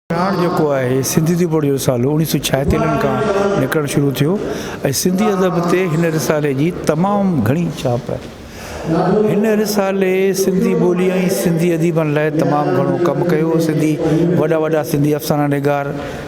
پراڻ جيڪو آهي سنڌي دي بوڙ جو رسالو اڻيهه سو ڇاهيتالين کان نڪرڻ شروع ٿيو ۽ سنڌي ادب تي هن رسالي جي تمام گهڻي ڇاپ آهي هن رسالي سنڌي ٻولي ۽ سنڌي اديبن لاء تمام گهڻو ڪم ڪيو سنڌي وڏا وڏا سنڌي افسانه نگار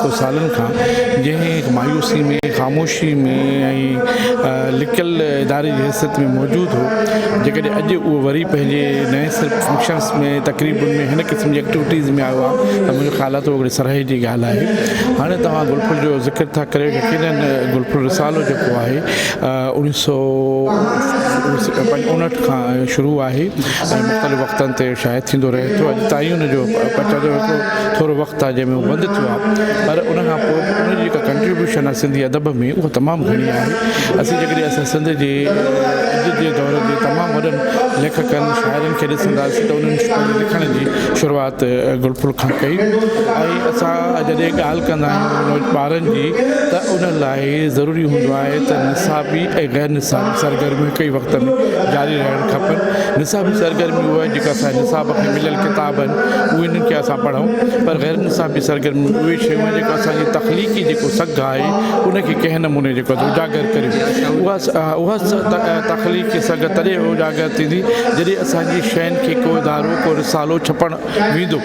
ڪو سالن کان جنهن هڪ مايوسي ۾ خاموشي ۾ ۽ لڪل اداري جي حيثيت ۾ موجود هو جيڪڏهن اڄ اهو وري پنهنجي نئين سر فنڪشنس ۾ تقريبن ۾ هن قسم جي ايڪٽيوٽيز ۾ آيو آهي ته منهنجو خيال آهي ته اهو هڪڙي سرهي جي ڳالهه آهي هاڻي توهان گل ڦل جو ذڪر ٿا ڪريو يقيناً گل ڦل رسالو جيڪو آهي انيس سو اڻهٺ کان شروع آهي ۽ مختلف وقتن تي شايع ٿيندو رهي ٿو اڄ تائين ان جو پچاجو هڪڙو ٿورو وقت آهي جنهن ۾ هو بند ٿيو آهي پر ان کان پوء به ان جي جيڪا ڪنٽريبيوشن آهي سنڌي ادب ۾ اها تمام گهڻي آهي اسين جيڪڏهن اسان سنڌ جي اڄ جي دور جي تمام وڏن ليکڪن شاعرن کي ڏسنداسين ته انهن پنهنجي لکڻ جي شروعات گل ڦل کان ڪئي ۽ اسان جڏهن ڳالهه ڪندا آهيون ٻارن جي ته ان لاء ضروري هوندو آهي ته نصابي ۽ غير نصابي سرگرميون هڪ ئي وقت ۾ جاري رهڻ کپن نصابي سرگرمي اها جيڪا اسان جي نصاب کي مليل ڪتاب آهن اهي آهن ڪي اسان پڙهون پر غير نصابي سرگرميون اهي شيون آهن جيڪو اسان جي تخليقي جيڪو سگهه آهي ان کي ڪنهن نموني جيڪو آهي اجاگر ڪريون اها اها تخليقي سگهه تڏهن اجاگر ٿيندي جڏهن اسان جي شين کي ڪو ادارو ڪو رسالو ڇپڻ ويندو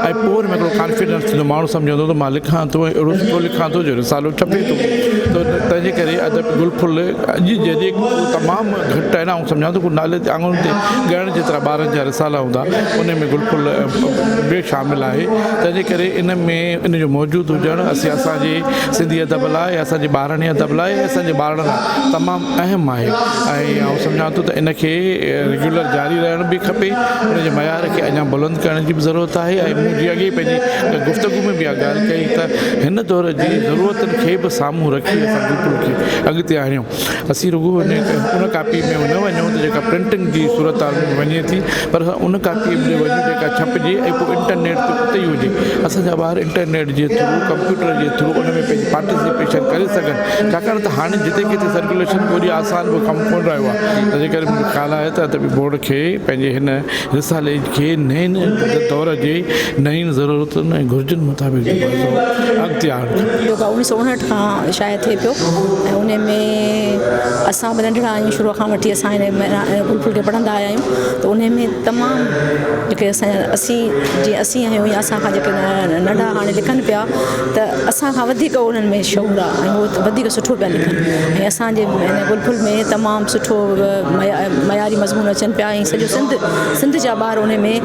۽ پوء ان ۾ هڪڙو ڪانفيڊنس ٿيندو ماڻهو سمجهندو ته مان لکان ٿو ۽ اهڙو سٺو لکان ٿو جو رسالو ڇپي ٿو ته تنهنجي ڪري ادب گل ڦل اڄ جڏهن تمام گهٽ آهن آئون سمجهان ٿو ڪو نالي تي آڱر تي ڳڻڻ جيترا ٻارن جا رسالا هوندا، انهي ۾ گل ڦل به شامل آهي، تنهن جي ڪري ان ۾ ان جو موجود هجڻ اسين اسان جي سنڌي ادب لاء ۽ اسان جي ٻاراڻي ادب لاء ۽ اسان جي ٻارڙن لاء تمام اهم آهي ۽ آئون سمجهان ٿو ته ان کي ريگيولر جاري رهڻ به کپي، ان جي معيار کي اڃان بلند ڪرڻ جي به ضرورت آهي ۽ مون جيئن اڳي پنهنجي گفتگو ۾ به اها ڳالهه ڪئي ته هن دور جي ضرورتن کي به سامهون رکي اسان گل ڦل کي اڳتي آڻيون. اسين رڳو ان ڪاپي ۾ نه وڃون ته جيڪا پرنٽنگ جي صورتحال ۾ وڃي ٿي پر ان ڪاپي ۾ وڃون جيڪا ڇپجي ۽ پوء انٽرنيٽ تي اتي ئي هجي اسان جا ٻار انٽرنيٽ جي ٿرو ڪمپيوٽر جي ٿرو ان ۾ پنهنجي پارٽيسپيشن ڪري سگهن ڇاڪاڻ ته هاڻي جتي ڪٿي سرڪيوليشن ٿوري آسان به ڪم ڪونه رهيو آهي تنهنجي ڪري منهنجو خيال آهي ته ادبي بورڊ کي پنهنجي هن رسالي کي نئين دور جي نين ضرورتن ۽ گهرجن مطابق اڳتي آڻڻ يوگا اوڻيھ سؤ اڻھٺ کان شايع ٿئي پيو ۽ ان ۾ اسان به ننڍڙا آھيون شروع کان وٺي اسان ان ۾ ھلڪو ڦلڪو پڙھندا آيا آھيون ته ان ۾ تمام جيڪي اسان جا اسي جي اسي آھيون يا اسان کان جيڪي ننڍا ھاڻي لکن پيا ته اسان کان وڌيڪ انھن ۾ شعور آ ۽ ھو ته وڌيڪ سٺو پيا لکن ۽ اسانجي ھن گلڦل ۾ تمام سٺو معياري مضمون اچن پيا ۽ سڄو سنڌ سنڌ جا ٻار ان ۾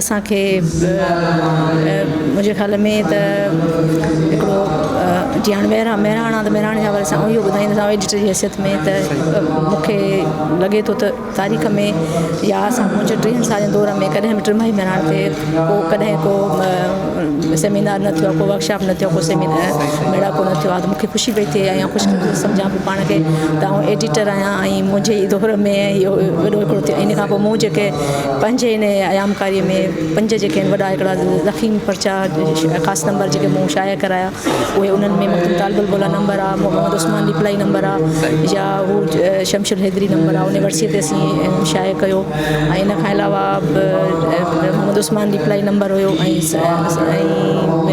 اسان کي منهنجي خيال ۾ ته هڪڙو جيئن هاڻي مهراڻ مهراڻ آ ته مهراڻ جي حوالي سان آئون اهو ٻڌائيندس آئون ايڊيٽر جي حيثيت ۾ ته مونکي لڳي ٿو ته تاريخ ۾ يا اسان منهنجي ٽيهن سالن دور ۾ ڪڏهن به ٽرماهي مهراڻ تي ڪو ڪڏهن ڪو سيمينار نه ٿيو ڪو ورڪشاپ نه ٿيو ڪو سيمينار ميڙاڪو نه ٿيو آ ته مونکي خوشي پئي ٿئي ۽ خوش سمجهان پئي پاڻ کي ته آئون ايڊيٽر آهيان ۽ منهنجي دور ۾ اهو وڏو هڪڙو ٿيو ان کان پوء مون جيڪي پنهنجي ان ايامڪاريء ۾ پنج جيڪي آهن وڏا هڪڙا ضخيم پرچا خاص نمبر جيڪي مون شايع ڪرايا اهي انهن ۾ مخدوم طالب البولا نمبر آهي محمد عثمان ڏيپلائي نمبر آهي يا هو شمشل حيدري نمبر آهي ان ورسيء تي اسين شايع ڪيو ۽ ان کان علاوه به محمد عثمان ڏيپلائي نمبر هيو ۽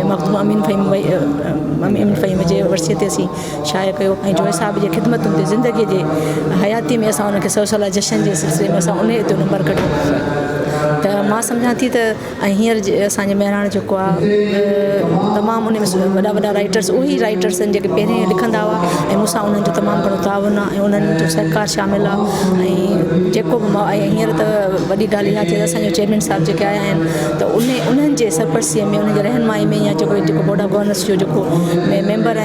۽ مخدوم امين فهيم امين فهيم جي ورسيء تي اسين شايع ڪيو ۽ جويي صاحب جي خدمتن تي زندگي جي حياتي ۾ اسان انهن کي سو سالها جشن جي سلسلي ۾ اسان انهي تي نمبر ڪڍيو ته مان سمجهان ٿي ته ۽ هينئر اسان جي مهراڻ جيڪو آ تمام انهي ۾ وڏا وڏا رائٽرس اهي رائٽرس آهن جيڪي پهرين لکندا هئا ۽ مون سان انهن جو تمام گهڻو تعاون آ ۽ انهن جو سهڪار شامل آ ۽ جيڪو به ماء ۽ هينئر ته وڏي ڳالهه اها ٿي اسان جي چيئرمين صاحب جيڪي آيا آهن ته انهي انهن جي سرپرستيء ۾ انهن جي رهنمائي ۾ يا جيڪو بورڊ آف گورننس جو جيڪو ميمبر آهن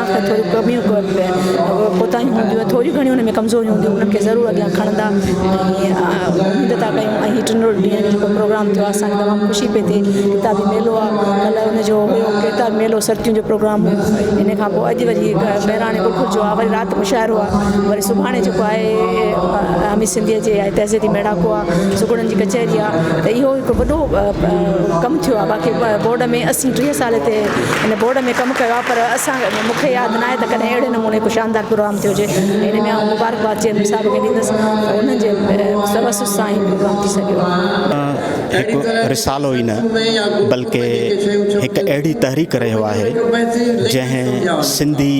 ته ٿوريون ڪميون ڪوئي به ڪوتاهيون هونديون ٿوريون گهڻيون ان ۾ ڪمزوريون هونديون انهن کي ضرور اڳيان کڻندا ۽ اميد ٿا ڪيون ۽ هي ٽنڊو ڏينهن جو جيڪو پروگرام ٿيو اسان کي تمام خوشي پئي ٿئي ڪتابي ميلو آ ڪلهه ان جو هيو ڪتابي ميلو سرتين جو پروگرام هو ان کان پوء اڄ وري بهراڻي ٻڪ جو آ وري رات مشاعرو آ وري سڀاڻي جيڪو آهي عامي سنڌيء جي تهذيبي ميڙاڪو آ سگهڙن جي ڪچهري آ ته اهو هڪ وڏو ڪم ٿيو آ باقي بورڊ ۾ اسي ٽيهه سال هتي هن بورڊ ۾ ڪم ڪيو آهي پر اسان مون کي ياد ناهي ته ڪڏهن اهڙي نموني ڪو شاندار پروگرام ٿيو هجي ۽ ان ۾ آئون مبارڪباد چيئرمين صاحب کي ڏيندس ته انهن جي توسط سان هي پروگرام ٿي سگهيو آهي. هڪ رسالو ئي نه بلڪ هڪ اهڙي تحريڪ رهيو آهي جنهن سنڌي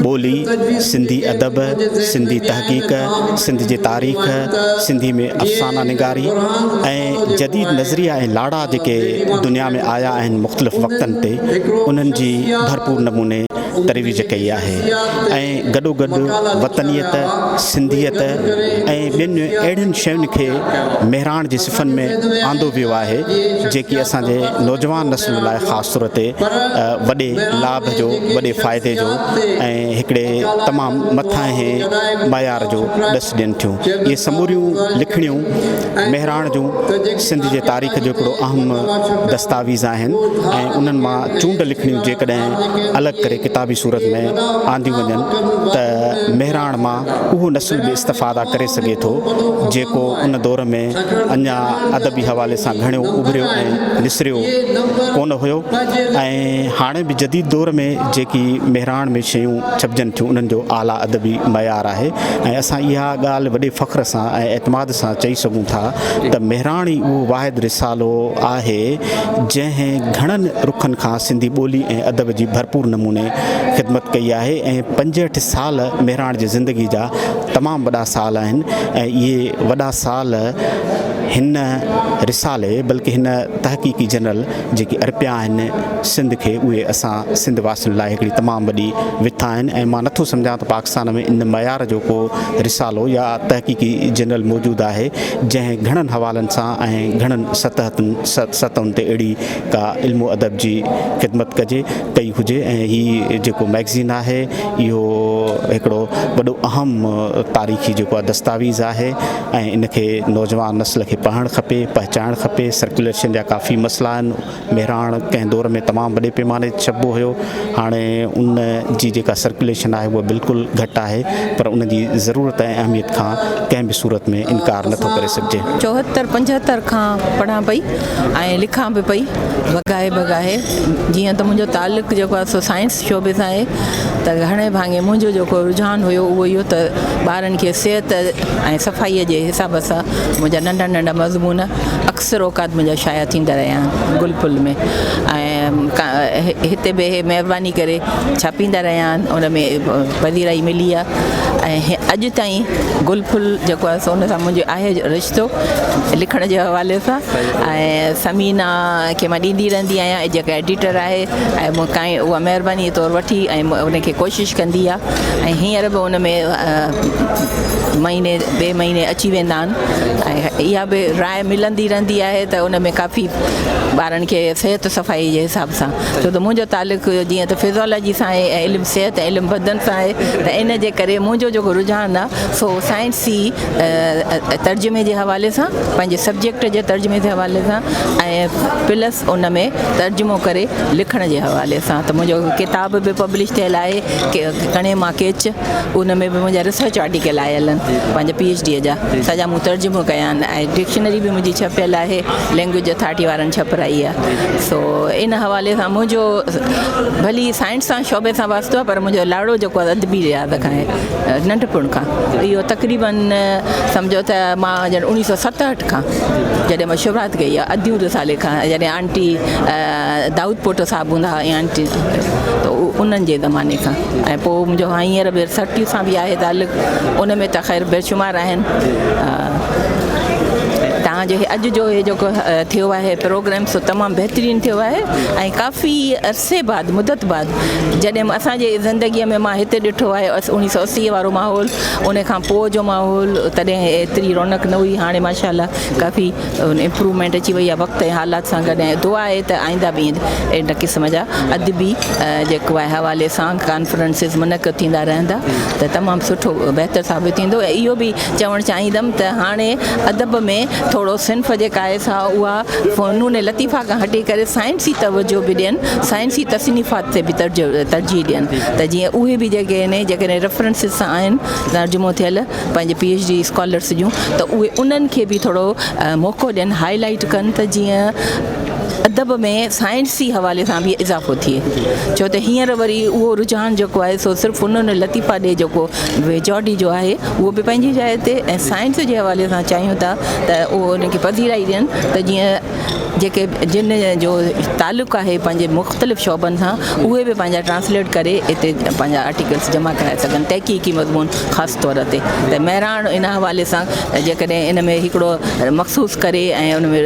ٻولي، سنڌي ادب، سنڌي تحقيق، سنڌ جي تاريخ، سنڌي ۾ افسانه نگاري ۽ ۽ جديد نظريا ۽ لاڙا جيڪي دنيا ۾ آيا آهن مختلف وقتن تي انهن جي ڀرپور نموني ترويج ڪئي آهي ۽ گڏوگڏ وطنيت، سنڌيت ۽ ٻين اهڙين شين کي مهراڻ جي صفن ۾ آندو ويو آهي جيڪي اسان جي نوجوان نسل لاء خاص طور تي وڏي لاڀ جو وڏي فائدي جو ۽ هڪڙي تمام مٿانهين معيار جو ڏس ڏين ٿيون اهي سموريون لکڻيون مهراڻ جون سنڌ جي تاريخ جو هڪڙو اهم دستاويز آهن ۽ انهن مان چونڊ لکڻيون جيڪڏهن الڳ ڪري ڪتابي صورت ۾ آنديون وڃن ته مهراڻ مان اهو نسل به استفاده ڪري سگهي ٿو جيڪو ان دور ۾ اڃا ادبي حوالي سان گهڻيو اڀريو ۽ نسريو ڪونه هيو ۽ هاڻي به جديد دور ۾ جيڪي مهراڻ ۾ شيون ڇپجن ٿيون انهن جو اعليٰ ادبي معيار آهي ۽ اسان اها ڳالهه وڏي فخر سان ۽ اعتماد اسان چئي سگهون ٿا ته مهراڻي اهو واحد رسالو آهي جنهن گهڻن رخن کان سنڌي ٻولي ۽ ادب جي ڀرپور نموني خدمت ڪئي آهي ۽ پنجهٺ سال مهراڻ جي زندگي جا تمام وڏا سال آهن ۽ اهي وڏا سال هن رسالي بلڪه هن تحقيقي جنرل جيڪي ارپيا آهن سنڌ کي اهي اسان سنڌ واسين لاء هڪڙي تمام وڏي وٿ آهن ۽ مان نٿو سمجهان ته پاڪستان ۾ ان معيار جو ڪو رسالو يا تحقيقي جنرل موجود آهي جنهن گهڻن حوالن سان ۽ گهڻن سطحتن سطحن تي اهڙي ڪا علم و ادب جي خدمت ڪجي ڪئي هجي ۽ هي جيڪو مئگزين آهي اهو هڪڙو وڏو اهم تاريخي جيڪو آهي دستاويز آهي ۽ ان کي نوجوان نسل کي پڙهڻ کپي پهچائڻ کپي سرڪيوليشن جا ڪافي مسئلا آهن مهراڻ ڪنهن دور ۾ تمام وڏي پيماني تي ڇپبو هيو هاڻي ان جي جيڪا سرڪيوليشن آهي اها بلڪل گهٽ آهي پر ان جي ضرورت ۽ اهميت کان ڪنهن به صورت ۾ انڪار نه ٿو ڪري سگهجي چوهتر پنجهتر کان پڙهان پئي ۽ لکان به پئي بگاهي بگاهي جيئن ته منهنجو تعلق جيڪو آهي سو سائنس شعبي سان آهي ته گهڻي ڀاڱي منهنجو جيڪو رجحان هيو اهو اهو ته ٻارن کي صحت ۽ صفائي جي حساب سان منهنجا ننڍا ننڍا مضمون اڪثر اوقات منهنجا شايع ٿيندا رهيا آهن گل ڦل ۾ ۽ هتي به اهي مهرباني ڪري ڇاپيندا رهيا آهن ان ۾ پذيرائي ملي آهي ۽ اڄ تائين گل ڦل جيڪو آهي سو ان سان منهنجو آهي رشتو لکڻ جي حوالي سان ۽ ثمينه کي مان ڏيندي رهندي آهيان جيڪا ايڊيٽر آهي ۽ مون کان اها مهربانيء طور وٺي ۽ ان کي ڪوشش ڪندي آ ۽ هينئر به ان ۾ مهيني ٻئي مهيني اچي ويندا آهن ۽ اها به راء ملندي رهندي آهي ته ان ۾ ڪافي ٻارن کي صحت صفائي جي حساب سان ڇو ته منهنجو تعلق جيئن ته فزيالاجي سان آهي ۽ علم صحت ۽ علم بدن سان آهي ته ان جي ڪري منهنجو جيڪو رجحان آ سو سائنسي ترجمي جي حوالي سان پنهنجي سبجيڪٽ جي ترجمي جي حوالي سان ۽ پلس ان ۾ ترجمو ڪري لکڻ جي حوالي سان ته منهنجو ڪتاب به پبلش ٿيل آهي ڪڻي مان ڪيچ ان ۾ به منهنجا ريسرچ آرٽيڪل آيل آهن پنهنجي پي ايڇ ڊي جا سڄا مون ترجمو ڪيا آهن ۽ ڊڪشنري به منهنجي ڇپيل آهي لينگويج اٿارٽي وارن ڇپرائي آهي سو ان حوالي سان منهنجو ڀلي سائنس سان شعبي سان واسطو آهي پر منهنجو لاڙو جيڪو آهي ادبي رياض کان آهي ننڍپڻ کان اهو تقريبن سمجهو ته مان ڄڻ اوڻيهه سو ستهٺ کان جڏهن مان شروعات ڪئي آهي اديون رسالي کان جڏهن آنٽي دائود پوٽو صاحب هوندا هئا ۽ آنٽي ته انهن جي زماني کان ۽ پوء منهنجو هاڻي هينئر به سرٽيء سان به آهي تعلق ان ۾ ته خير بيشمار آهن تان جو اڄ جو هي جيڪو ٿيو آهي پروگرام سو تمام بهترين ٿيو آهي ۽ ڪافي عرصي بعد مدت بعد جڏهن اسان جي زندگي ۾ مان هتي ڏٺو آهي انيس سو اسي وارو ماحول ان کان پوء جو ماحول تڏهن ايتري رونق نه هئي هاڻي ماشاء الله ڪافي امپرومينٽ اچي وئي آهي وقت ۽ حالات سان گڏ ۽ دعا آهي ته آئنده به ائين اهڙن قسم جا ادبي جيڪو آهي حوالي سان ڪانفرنسز منعقد ٿيندا رهندا ته تمام سٺو بهتر ثابت ٿيندو ۽ اهو به چوڻ چاهيندم ته هاڻي ادب ۾ ٿورو صنف جيڪا آهي سا اها فنون لطيفه کان هٽي ڪري سائنسي توجه به ڏين سائنسي تصنيفات تي به ترجيح ڏين ته جيئن اهي به جيڪي آهن جيڪڏهن ريفرنسز سان آهن ترجمو ٿيل پنهنجي پي ايڇ ڊي اسڪالرس جون ته اهي انهن کي به ٿورو موقعو ڏين هائي لائيٽ ڪن ته جيئن ادب ۾ سائنسي حوالي سان به اضافو ٿئي ڇو ته هينئر وري اهو رجحان جيڪو آهي سو صرف هن لطيفا ڏي جيڪو ويجاڊي جو آهي اهو به پنهنجي جاء تي ۽ سائنس جي حوالي سان چاهيون ٿا ته اهو ان کي پذيرائي ڏين ته جيئن جيڪي جن جو تعلق آهي پنهنجي مختلف شعبن سان اهي به پنهنجا ٽرانسليٽ ڪري اتي پنهنجا آرٽيڪلس جمع ڪرائي سگهن تحقيقي مضمون خاص طور تي ته مهراڻ ان حوالي سان جيڪڏهن ان ۾ هڪڙو مخصوص ڪري ۽ ان ۾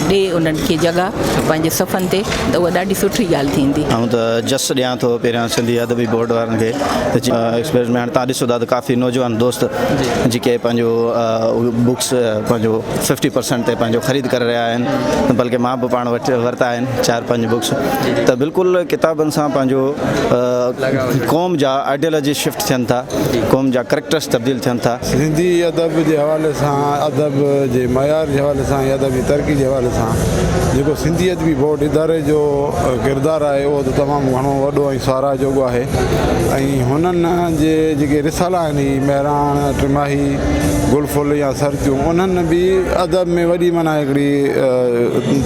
ڏي انهن کي جڳهه پنهنجي صفحن تي ته اها ڏاڍي سٺي ڳالهه ٿيندي آئون ته جس ڏيان ٿو پهريان سنڌي ادبي بورڊ وارن کي ايڪسپريس ۾ هاڻي تان ڏسو ٿا ته ڪافي نوجوان دوست جيڪي پنهنجو بڪس پنهنجو ففٽي پرسنٽ تي پنهنجو خريد ڪري رهيا آهن بلڪه مان به پاڻ وٽ ورتا آهن چار پنج بڪس ته بلڪل ڪتابن سان پنهنجو قوم جا آئيڊيولوجي شفٽ ٿين ٿا قوم جا ڪريڪٽرس تبديل ٿين ٿا سنڌي ادب جي حوالي سان ادب جي معيار جي حوالي سان يا ادب جي ترقي جي حوالي سان جيڪو سنڌي ادبي بورڊ اداري جو ڪردار آهي اهو ته تمام گهڻو وڏو ۽ ساراهه جوڳو آهي ۽ هنن جي جيڪي رسالا آهن هي مهراڻ ٽماهي گل ڦل يا سرتيون انهن به ادب ۾ وڏي معنيٰ هڪڙي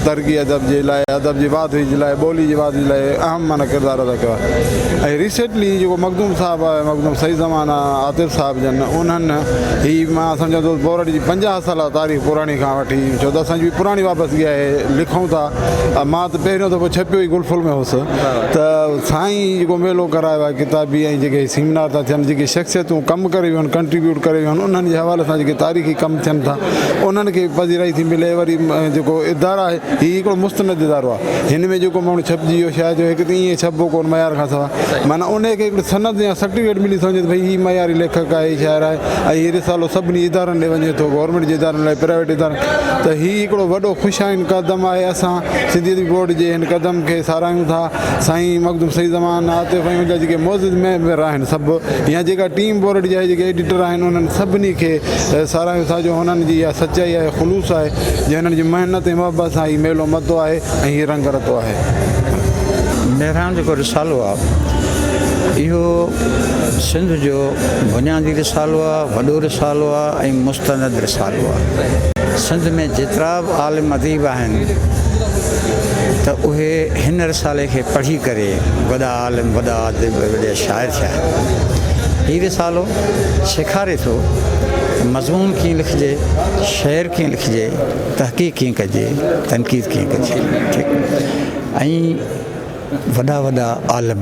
ترقي ادب جي لاء ادب جي واڌوي جي لاء ٻولي جي واڌوي جي لاء اهم معنيٰ ڪردار ادا ڪيو آهي ۽ ريسينٽلي جيڪو مخدوم صاحب آهي مخدوم سعيد زمان عاطف صاحب جن انهن هي مان سمجهان ٿو بورهٽ جي پنجاهه سالا تاريخ پراڻي کان وٺي ڇو ته اسان جي پراڻي وابستگي آهي لکون ٿا مان ته پهريون دفعو ڇپيو ئي گل ڦل ۾ هوس ته سائين جيڪو ميلو ڪرايو آهي ڪتابي ۽ جيڪي هي سيمنار ٿا ٿين جيڪي شخصيتون ڪم ڪري ويون آهن ڪنٽريبيوٽ ڪري ويون آهن انهن جي حوالي سان جيڪي تاريخي ڪم ٿين ٿا انهن کي پذيرائي ٿي ملي وري جيڪو ادارا آهي هي هڪڙو مستند ادارو آهي هن ۾ جيڪو ماڻهو ڇپجي ويو شايد جو هڪ ته ايئن ڇپبو ڪون معيار کان سواء معنيٰ ان کي هڪڙي سند يا سرٽيفڪيٽ ملي سمجهي ته ڀئي هي معياري ليکڪ آهي شاعر آهي ۽ هي رسالو سڀني ادارن ڏي وڃي ٿو گورنمينٽ جي ادارن لاء پرائيويٽ ادارن ته هي هڪڙو وڏو خوش آئند قدم آهي اسان سنڌي ادبي بورڊ جي هن قدم کي ساراهيون ٿا سائين مخدوم سيد زمان، عاطف ۽ ان جا جيڪي معزز ميمبر آهن سڀ يا جيڪا ٽيم بورڊ جا جيڪي ايڊيٽر آهن انهن سڀني کي ساراهيون ٿا جو هنن جي اها سچائي آهي خلوص آهي جي هنن جي محنت ۽ محبت سان هي ميلو متو آهي ۽ هي رنگ رتو آهي. مهراڻ جيڪو رسالو آ اهو سنڌ جو بنيادي رسالو آ، وڏو رسالو آ ۽ مستند رسالو آ. سنڌ ۾ جيترا به عالم اديب آهن آهن ته اهي هن رسالي کي پڙهي ڪري وڏا عالم، وڏا اديب، وڏا شاعر ٿيا آهن. هي رسالو سيکاري ٿو ته مضمون ڪيئن لکجي، شعر ڪيئن لکجي، تحقيق ڪيئن ڪجي، تنقيد ڪيئن ڪجي ۽ وڏا وڏا عالم،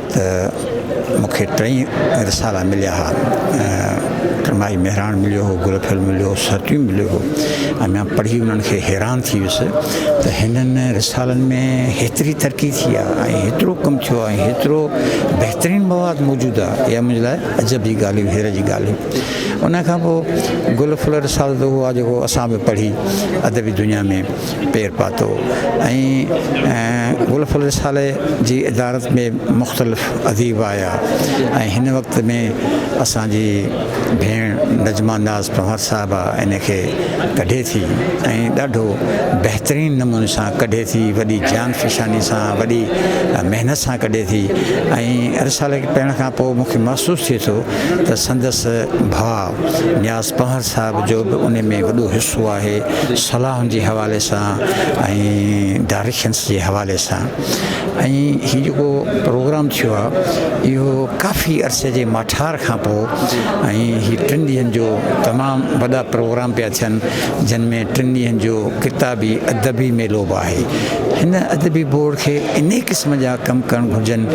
ته مون کي ٽئي رسالا مليا ها ۽ ٽرماهي مهراڻ مليو هو، گل ڦل مليو هو، سرٽيون مليو هو ۽ مان پڙهي انهن کي حيران ٿي ويس ته هنن رسالن ۾ هيتري ترقي ٿي آ ۽ هيترو ڪم ٿيو آ ۽ هيترو بهترين مواد موجود آ، اها منهنجي لاء عجب جي ڳالهه هئي، حيرت جي ڳالهه هئي. انهن کان پوء گل ڦل رسالو ته اهو آ جيڪو اسان به پڙهي ادبي دنيا ۾. پير پاتو ۽ غلف الرساله جي ادارت ۾ مختلف اديب آيا ۽ هن وقت ۾ اسان جي ڀيڻ نجمه ناز پنهور صاحبه ان کي ڪڍي ٿي ۽ ڏاڍو بهترين نموني سان ڪڍي ٿي وڏي جان فشاني سان وڏي محنت سان ڪڍي ٿي ۽ رساله کي پڙهڻ کان پوء مونکي محسوس ٿئي ٿو ته سندس ڀاء نياز پنهور صاحب جو به ان ۾ وڏو حصو آهي صلاحن جي حوالي سان ۽ ڊائريڪشنس جي حوالي سان ۽ هي جيڪو پروگرام ٿيو آهي اهو ڪافي عرصي جي ماٺار کان پوء ۽ هي ٽن ڏينهن جو تمام وڏا پروگرام پيا ٿين جن ۾ ٽن ڏينهن جو ڪتابي ادبي ميلو به آهي هن ادبي بورڊ کي انهي قسم جا ڪم ڪرڻ گهرجن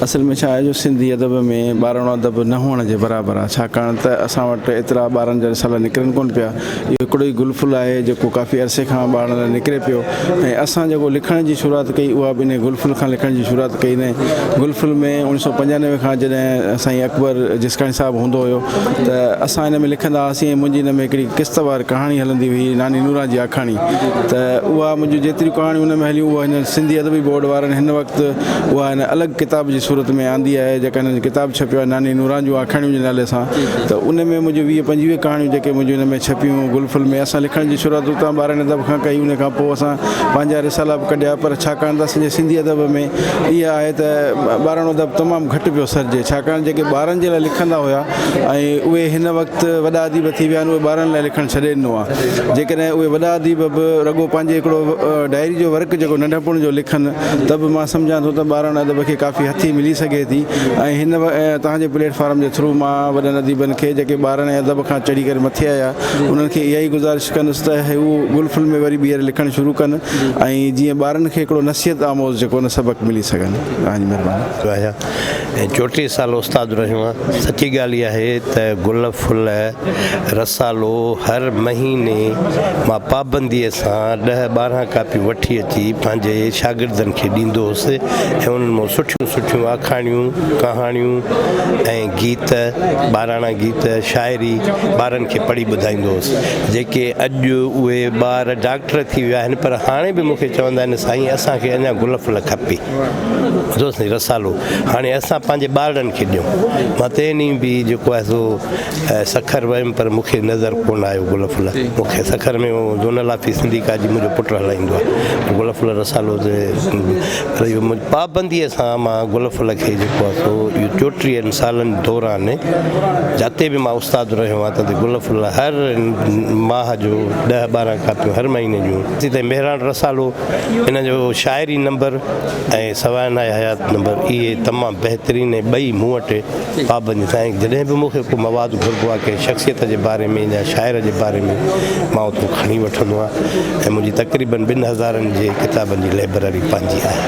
اصل ۾ ڇا آهي جو سنڌي ادب ۾ ٻارڻو ادب نه هئڻ جي برابر آهي ڇاڪاڻ ته اسان وٽ ايترا ٻارڻ جا رسالا نڪرن ڪونه پيا اهو هڪڙو ئي گل ڦل آهي جيڪو ڪافي عرصي کان ٻارڻ لاء نڪري پيو ۽ اسان جيڪو لکڻ جي شروعات ڪئي اها به انهي گل ڦل کان لکڻ جي شروعات ڪئي انهي گل ڦل ۾ اوڻيھ سئو پنجانوي کان جڏهن سائين اڪبر جسڪاڻي صاحب هوندو هيو ته اسان ان ۾ لکندا هئاسين ۽ منهنجي ان ۾ هڪڙي قسط وار ڪهاڻي هلندي هئي ناني نوران جي آکاڻي ته اها منهنجون جيتريون ڪهاڻيون ان ۾ هليون اهو هن سنڌي ادبي بورڊ وارن هن وقت اها هن الڳ ڪتاب جي صورت ۾ آندي آهي جيڪا هن ڪتاب ڇپيو آهي ناني نوران جون آکاڻيون جي نالي سان ته ان ۾ منهنجون ويهه پنجويهه ڪهاڻيون جيڪي منهنجون ان ۾ ڇپيون گل ڦل ۾ اسان لکڻ جي شروعات اتان ٻارهن ادب کان ڪئي ان کان پوء اسان پنهنجا رسالا به ڪڍيا پر ڇاڪاڻ ته اسان جي سنڌي ادب ۾ اها آهي ته ٻاراڻو ادب تمام گهٽ پيو سرجي ڇاڪاڻ جيڪي ٻارن جي لاء لکندا هيا ۽ اهي هن وقت وڏا اديب ٿي ويا آهن اهي ٻارن لاء لکڻ ڇڏي ڏنو آهي جيڪڏهن اهي وڏا اديب به رڳو پنهنجي هڪڙو ڊائري جو ورق جيڪو ننڍپڻ جو لکن ته به مان سمجهان ٿو ته ٻارڻ ادب کي ڪافي هٿي ملي سگهي ٿي ۽ هن توهان جي پليٽ فارم جي ٿرو مان وڏن اديبن کي جيڪي ٻارڻ ۽ ادب کان چڙهي ڪري مٿي آيا انهن کي اها ئي گذارش ڪندس ته هو گل ڦل ۾ وري ٻيهر لکڻ شروع ڪن ۽ جيئن ٻارڻ کي هڪڙو نصيحت آموز جيڪو نه سبق ملي سگهن ۽ چوٽيهه سال استاد رهيو آهيان. سچي ڳالهه اها آهي ته گل ڦل رسالو هر مهيني مان پابنديء سان ڏهه ٻارهن ڪاپيون وٺي اچي پنهنجي شاگردن کي ڏيندو هوس ۽ انهن مان سٺيون سٺيون آکاڻيون، ڪهاڻيون ۽ گيت، ٻاراڻا گيت، شاعري ٻارن کي پڙهي ٻڌائيندو هوس. جيڪي اڄ اهي ٻار ڊاڪٽر ٿي ويا آهن پر هاڻي به مون کي چوندا آهن سائين اسان کي اڃا گل ڦل کپي. دوستن جي رسالو هاڻي اسان پنهنجي ٻارڙن کي ڏيون. مان تنهن ڏينهن به جيڪو آهي سو سکر ويم پر مون کي نظر ڪونه آيو گل ڦل. مون کي سکر ۾ زونل آفيس سنڌي ڪا جي منهنجو پٽ هلائيندو آهي. گل ڦل رسالو تي رهيو منهنجي پابنديء سان مان گل ڦل کي جيڪو آهي سو اهو چوٽيهن سالن دوران جتي به مان استاد رهيو آهيان تتي گل ڦل هر ماهه جو ڏهه ٻارهن ڪاپيون هر مهيني جون. ايستائين مهراڻ رسالو هن جو شاعري نمبر ۽ سوانح حيات نمبر اهي تمام بهترين ۽ ٻئي مون وٽ پابندي سان ۽ جڏهن به مون کي ڪو مواد گهربو آهي ڪنهن شخصيت جي باري ۾ يا شاعر جي باري ۾ مان اتان کڻي وٺندو آهيان ۽ منهنجي تقريبن ٻن هزارن جي ڪتابن جي لئبرري پنهنجي آهي.